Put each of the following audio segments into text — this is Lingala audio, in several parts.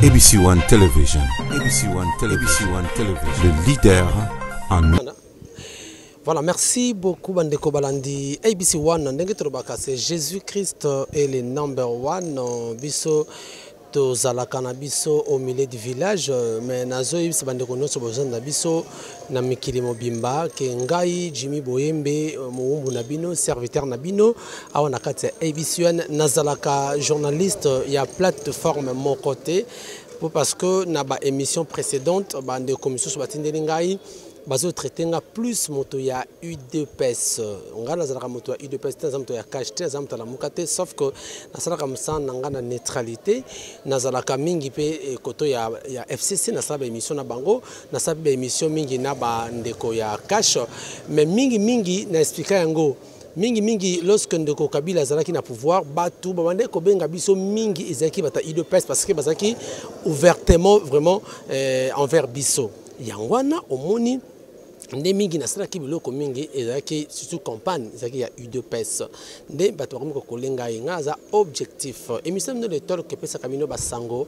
ABC One Television. ABC One Television. ABC One Television. Le leader en Voilà, merci beaucoup Bandeko Balandi. ABC One, ndenge tolobaka c'est Jésus-Christ est le number one biso tozalaka na biso au milieu du village euh, mais nazoyebisa bandeko nyonso bozali na biso na mikili mobimba ke ngai jimi boyembe euh, mowumbu na bino serviteur na bino awa na kati ya abcn nazalaka journaliste ya plateforme moko te po parce que na baémission précédente bandeko misusu batindeli ngai bazotraite nga plus moto ya udps ngai nazalaka moto ya udps te naza moto ya cash te naza moto alamuka te sauf que nasalaka mosala na ngai na neutralité nazalaka mingi mpe eh, koto ya, ya fcc nasala baémission na bango nasala mpe baémission mingi na bandeko ya cash mais mingi mingi na explika yango mingi mingi lorsque ndeko kabila azalaki na pouvoir bato babandaki kobenga biso mingi ezalaki bata udps parce que bazalaki ouvertement vraiment euh, envers biso yango wana omoni nde mingi nasalaki biloko mingi ezalaki surtout campagne ezalaki ya udps nde bato bakomi kokolenga ye ngai aza objectif émission bino de tolk epesaka bino basango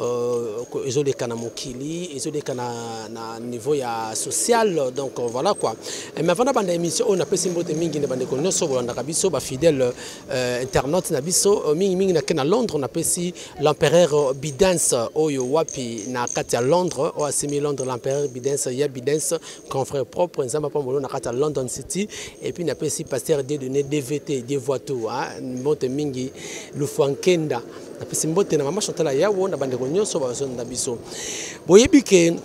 Euh, ezoleka na mokili ezoleka na, na niveau ya social donc euh, voilà quoi eh, mais avant nabanda émission oyo napesi mbote mingi na bandeko nyonso bolandaka biso bafidèle euh, internaute na biso mingimingi nake na londres napesi l'empereur bidens oyo wapi na kati ya londres oyo asimi londres l'empereur bidens ya bidens confrère propre nzambe apambolo na kati ya london city et puis napesi pasteur dedone dvt devoitou mbote mingi lufuankenda napesi mbote na mama chantal ayawo na bandeko nyonso bazonda biso boyebi ke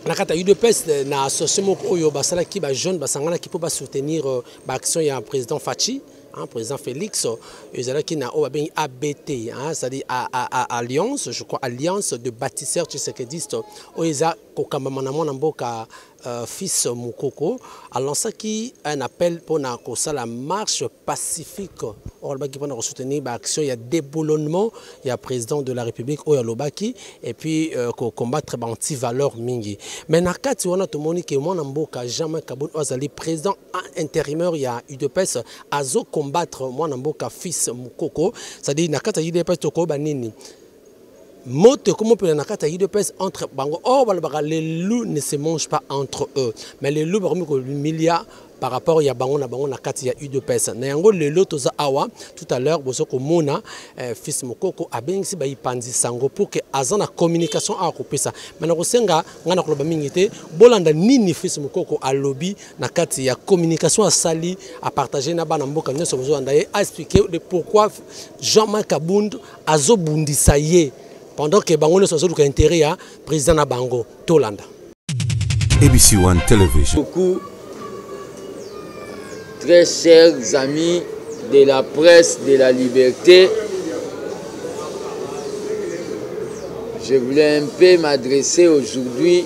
na kati ya udps eh, na association moko oyo basalaki bajeune basanganaki mpo basoutenir euh, baaction ya président faci hein, président Félix euh, ezalaki na oyo babengi ABT hein, c'est-à-dire à, à, à, alliance je crois alliance de bâtisseurs tshisekediste oyo eza kokambama na mwana mboka Euh, fils Mukoko a lancé un appel pour la marche pacifique pour soutenir l'action il y a déboulonnement il y a président de la République il y a Lobaki et puis pour euh, combattre les anti valeurs mingi mais na kati wana to moni que mon mboka jamais Kabul Azali président intérimaire il y a UDPS azo combattre mon mboka fils Mukoko c'est-à-dire na kati UDPS to ko banini moto ekomopela na kati ya udps entre bango or balobaka les loups ne se mange pas entre eux mais les loups bakomi komilia par rapport ya bango na bango na kati ya udps na yango lelo toza awa tout à l'heure bozo komona eh, fils mokoko abengisi bayipanzi sango pour que aza na communication awa kopesa me nakosenga ngai na koloba mingi te bolanda nini fils mokoko alobi na kati ya communication asali apartage na bana mboka nyonso bozolanda ye aexplike de pourquoi jean marc abund azo bundisa ye pendant que bango nioso bazo luka intérêt ya président na bango tolanda ABC One Television. Beaucoup, très chers amis de la presse de la liberté, je voulais un peu m'adresser aujourd'hui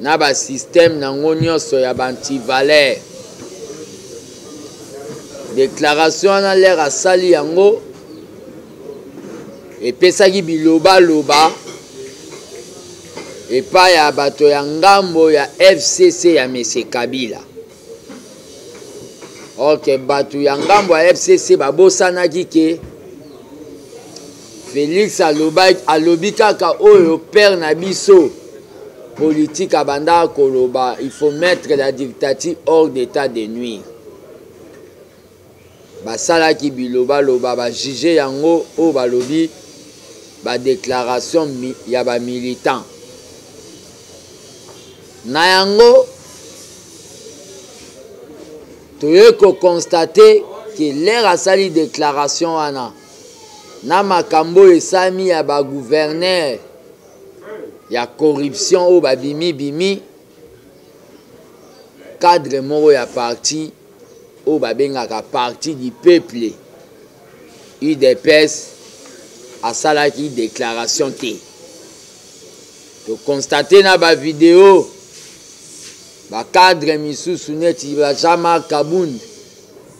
na ba système nango nyonso ya ba antivaleur déclaration wana lere asali yango epesaki bilobaloba epai ya bato ya ngambo ya fcc ya mese kabila orke bato ya ngambo ya fcc babosanaki ke Felix alobaki alobi kaka oyo père na biso politique abanda koloba il faut mettre la dictature hors d'état de nuire. Basalaki bilobaloba ba juge yango oyo balobi ba déclaration ya ba militants. Na yango toye ko constater que l'heure asali déclaration wana na makambo oyo esami ya bagouverneur ya corruption oyo babimibimi cadre moko ya parti oyo babengaka parti du peuple udps asalaki déclaration te tokonstate na bavideo bacadre misusu neti ba jean marc kabund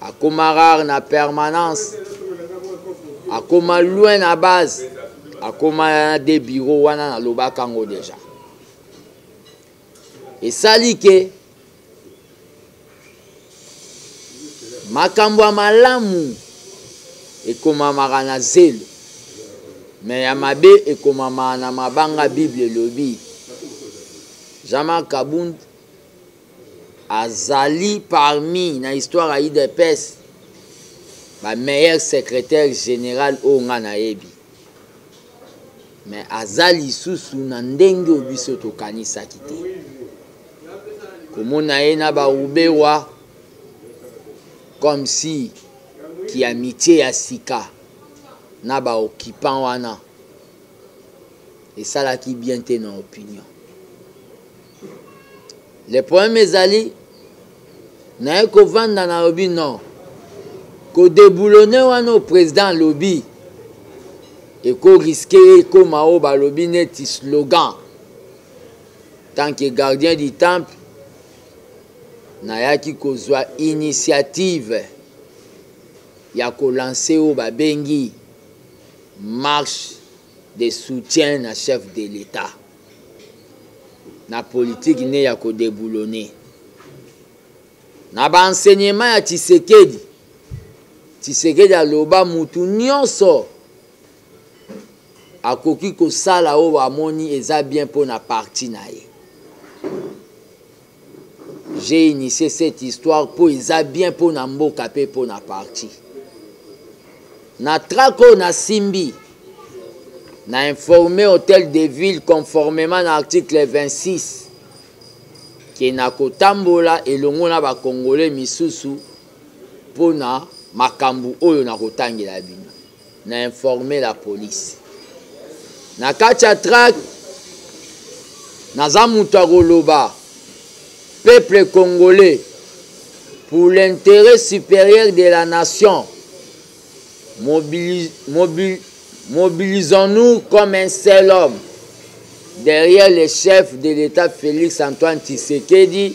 akoma rare na permanence akoma loin na base akoma na de bureau wana nalobaka yango deja esali ke makambo ya malamu ekomamaka na zelo me ya mabe ekomamaka na mabanga bible elobi jean-marc kabund azali parmi na histoire ya udps ba meilleur secrétaire général oyo nga nayebi mais aza lisusu na ndenge oyo biso tokanisaki te komona ye na barubewa comme si kiamitie ya sika na baoccupant wana esalaki bien te na opinion le problème ezali naye kovanda nalobi non kodeboulone wana oyo président alobi ekoriske ye ekóma oyo balobi neti slogan tant que gardien du temple nayaki kozwa initiative ya kolanse oyo babengi marche de soutien na chef de l'état na politiki nde ya kodeboulone na baenseignement ya tshisekedi tshisekedi aloba mutu nyonso akoki kosala oyo amoni eza bien mpo na parti na ye J'ai initié cette histoire po eza bien po na mboka pe po na parti. Na track oyo na simbi na informe hôtel de ville conformément na article 26 ke na kotambola elongo na bakongole misusu mpo na makambo oyo nakotangela bino Na informer la police. Na kati ya track naza moto ya koloba peuple congolais pour l'intérêt supérieur de la nation mobilis, mobil, mobilisons-nous comme un seul homme derrière le chef de l'État Félix Antoine Tshisekedi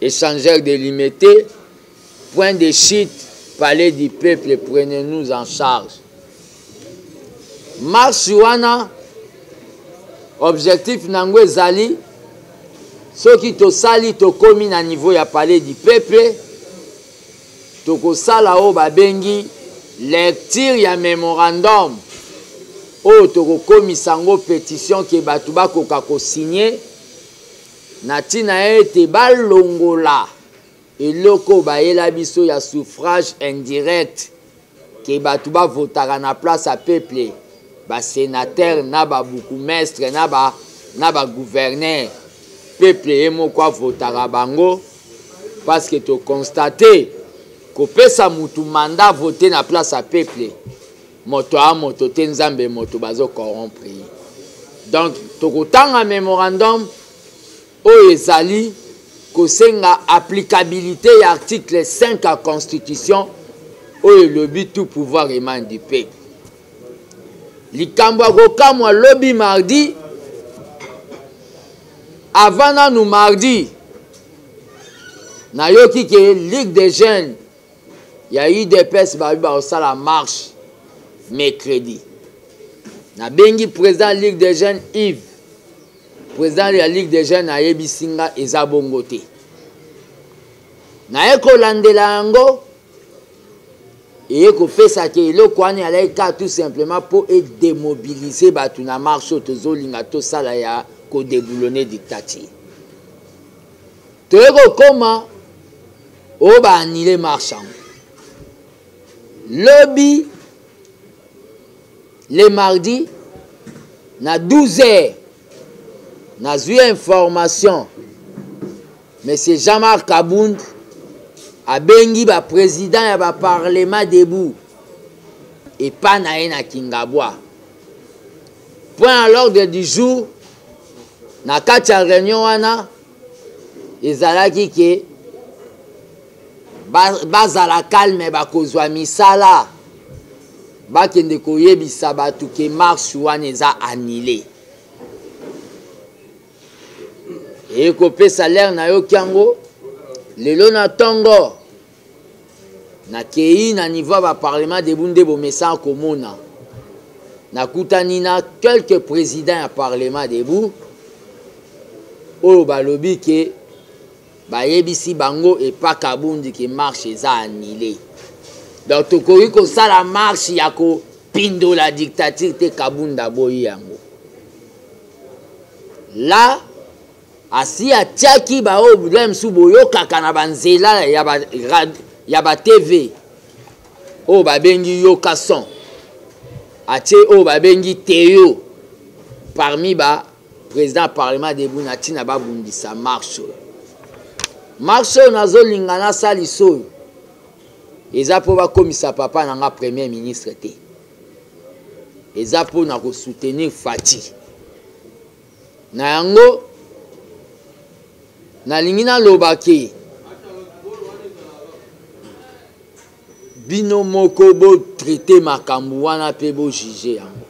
Échangeur de limete, point de chute, palais du peuple, prenez-nous en charge. Marche wana objectif na yango ezali soki tosali tokomi na niveau ya palais du peuple tokosala oyo babengi lecture ya memorandum oyo tokokomisa yango petition ke bato bakoka kosigne Na ntina ete balongola eloko oyo bayela biso ya suffrage indirect ke bato bavotaka na place ya peuple basenatere na babukumestre na ba na bagouverneur peuple ye moko avotaka bango parce que tokonstate kopesa motu manda vote na place ya peuple moto a moto te nzambe moto bazo corrompre ye donc tokotanga memorandum oyo ezali kosenga applicabilité ya article 5 ya constitution oyo elobi tout pouvoir emane du peuple likambo ya kokamwa lobi mardi avant nanu mardi nayoki ke ligue des jeunes ya udps babi bakosala marche mercredi nabengi président ya ligue des jeunes ive président ya ligue des jeunes ayebisi nga eza bongo te naye kolandela yango eye kopesa te eloko wana ezalaki kaka tout simplement mpo edemobilize bato na marche oyo tozolinga tosala ya kodeboulone dictature Toye kokoma o ba annule marche yango lobi le mardi na 12 heures nazwi information monsieur jean-marc kabund abengi baprésident ya baparlement debout epa na ye na kingabwa point à l'ordre du jour na kati ya réunion wana ezalaki ke bazala ba calme bakozwa misala bakende koyebisa bato ke marche wana eza annule ekopesa lere na yo kyango lelo na ntongo nakei na niveau ya baparlement debu nde bomesana komona nakutani na quelques président ya parlement debu oyo balobi ke bayebisi bango epa kabundi ke marche eza anile donc tokoki kosala marche ya kopindola dictature te kabundi aboyi yango la asi atiaki baoyo biblia mosusu boyokaka na banzela ya batv oyo babengi yoka son atie oyo babengi teo parmi ba président ya parlement debu na ntina babundisa marche oyo marche oyo nazolinga nasalisa oyo eza mpo bakomisa papa na nga premier ministre te eza mpo na kosoutenir fati Na yango, nalingi naloba ke bino moko bo traite makambo wana mpe bo juge yango.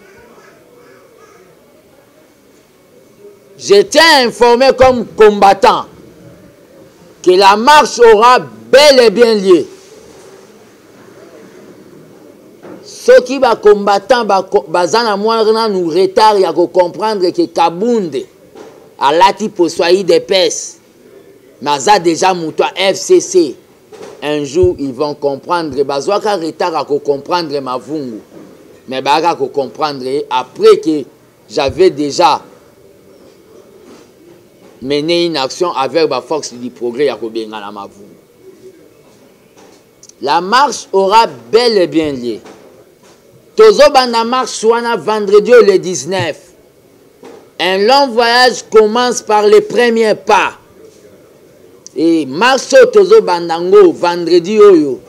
J'étais informé comme combattant que la marche aura bel et bien lieu. soki ba combattant baza na mwa nanu retard ya ko comprendre ke kabunde alati poso ya idps mais aza deja moto ya fcc un jour ils vont comprendre bazwaka retard ya kocomprendre mavungu mais bayaka kocomprendre ye après que j'avais déjà mené une action avec baforce du progrès ya kobengana mavungu La marche aura bel et bien lieu. Tozobanda marche wana vendredi au le 19. Un long voyage commence par les premiers pas. Et marche oyo tozobanda ngo vendredi oyo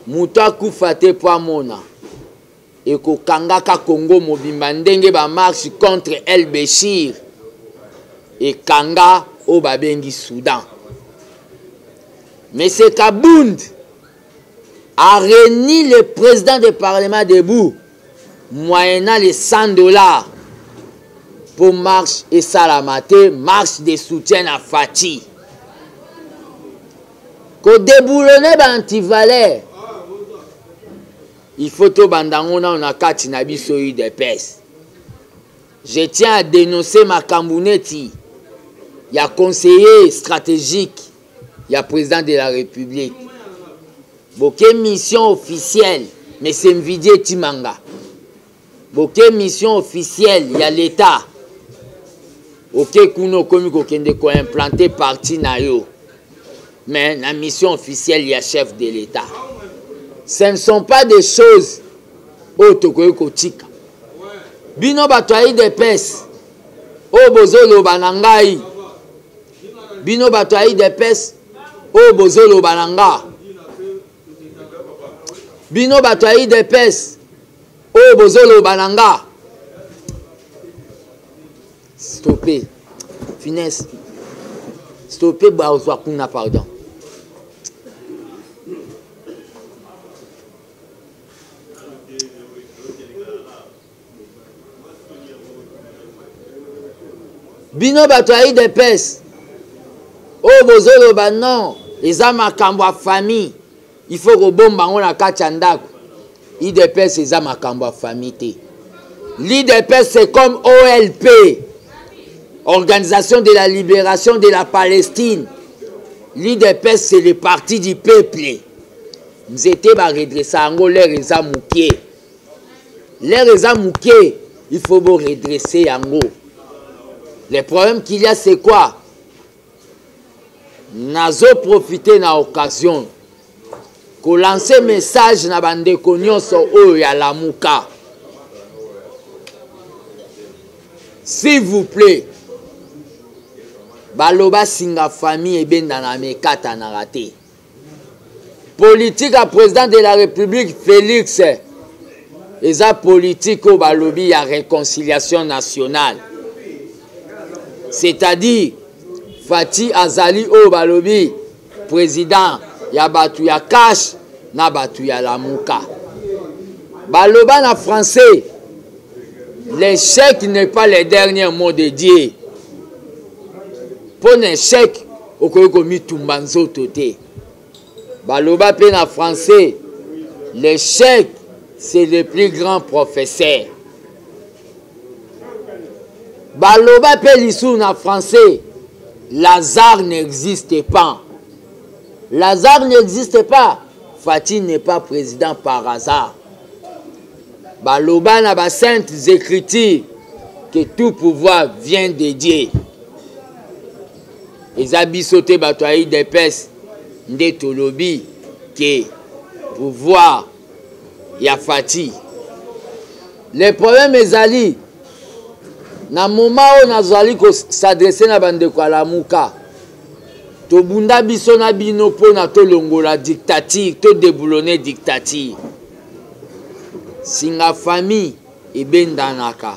moto akufa te mpo amona ekokangaka congo mobimba ndenge bamarche contre el beshir ekanga oyo babengi soudan monsieur kabund a réuni le président du parlement debout moyennant les 100 dollars mpo marche esalama te marche de soutien na fati kodeboulone baantivaleur il faut tobanda yango nano na kati na biso udps je tiens à dénoncer makambo neti ya conseiller stratégique ya président de la république boke mission officielle mese mvidie timanga boke mission officielle ya l'etat oke kuna okomi kokende koimplante parti na yo mais na mission officielle ya chef de l'etat ce ne sont pas des choses oyo tokoki kotika bino bato ya idps oyo bozoloba na ngai bino bato ya idps oyo bozoloba na ngai bino bato ya idps oyo bozoloba na nga stope finesse stope bazwa kuna pardon bino bato ya idps oyo oh, bozoloba non eza makambo ya famille il faut kobomba yango na kati ya ndako idps eza makambo ya famille te l'idps c'est comme olp organisation de la libération de la palestine l'idps c'est le parti du peuple nzete baredressa yango lere eza moke L'heure eza muke, il faut bo redresser yango. Le problème qu'il y a c'est quoi? Nazo profiter na occasion ko lancer message na bandeko nyonso oyo ya Lamuka. S'il vous plaît, baloba singa famille ebendana mekatanaka te. politike ya président de la république félix eza politike oyo balobi ya réconciliation nationale c'est-à-dire fati azali oyo balobi président ya bato ya cash na bato ya lamuka baloba na français l'échec n'est pas le dernier mot de dieu mpo na échec okoki komitumba nzoto te baloba mpe na français l'échec c'est le plus grand professeur baloba mpe lisusu na français lazare n'existe pas lazare n'existe pas fati n'est pas président par hasard baloba na basaintes écritures que tout pouvoir vient de dieu eza biso te bato ya idps nde tolobi ke pouvoir ya fati le problème ezali na moma oyo nazali kosadresse na bandeko ya lamuka tobunda biso na bino mpo na tolongola dictature todeboulone dictature singa famille ebendanaka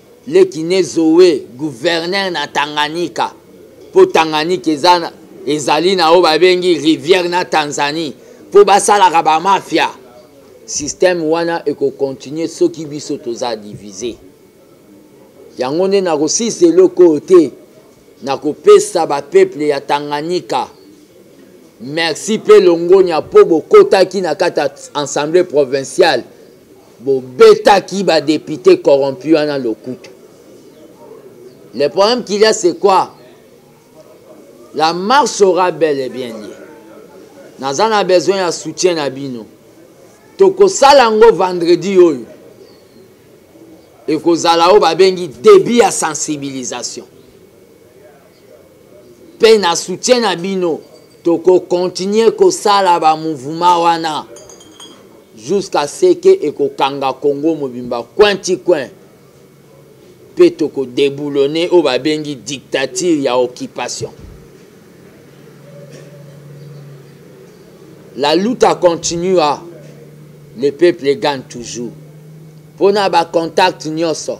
Leki ne Zoe, gouverneur na Tanganyika, mpo Tanganyika eza ezali na oyo babengi rivière na Tanzanie, mpo basalaka ba mafia. Système wana ekokontinue soki biso toza divise. Yango nde nakosilisa eloko oyo te, nakopesa bapeuple ya Tanganyika merci mpe longonya mpo bokotaki na kati ya Assemblee provinciale bobetaki ba député corrompu wana lokutu le problème qu'il y a c'est quoi la marche sera bel et bien lieu naza na besoin ya soutien na bino tokosala yango vendredi oyo ekozala oyo babengi début ya sensibilisation mpe na soutien na bino tokokontinue kosala bamouvema wana jusqu'à ce que ekokanga congo mobimba coin ti coin mpe tokodeboulone oyo babengi dictature ya occupation la luta continua le peuple gagne toujours mpo na bacontacte nyonso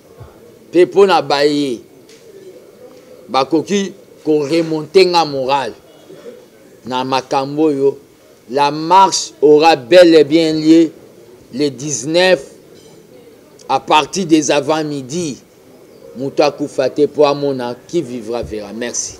mpe mpo na baye bakoki koremonte nga morale na makambo oyo la marche aura bel et bien lieu le 19 à partir des avant midi moto akufa te mpo amona qui vivra verra merci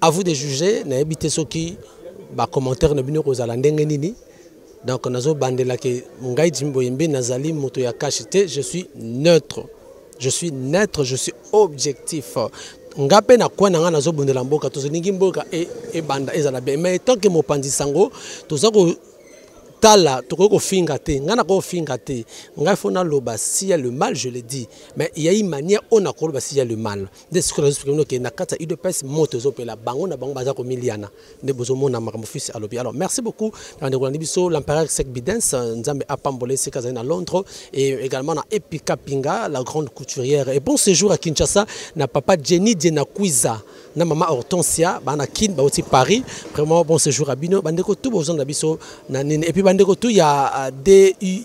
À vous de juger, nayebi te soki ba commentaires na bino kozala ndenge nini. Donc nazo bandela ke ngai Jimmy Boyembe nazali moto ya cash te, je suis neutre. Je suis neutre, je suis objectif. nga mpe na koi na ngai nazobundela mboka tozolingi mboka e, ebanda ezala bien mais tant que mopanzi sango toza kotala tokoki kofinga te ngai nakoki kofinga te ngai fo naloba sia le mal je le dis mais yai manière oyo nakoloba sia le mal nde sikoyo nazo explique noke na kati ya udps moto ezopela bango na bango baza komiliana nde bozomona makambo fils alobi alors merci beaucoup na bandeko na biso l'empereur sec bidens nzambe apambola esika azali na londres et également na epika pinga la grande couturière et bon séjour à kinshasa na papa jenny dienakuiza na mama hortensia baa na kin bauti paris vraiment bon séjour à bino bandeko tu bozonda biso na nini et puis bandeko tu ya euh, du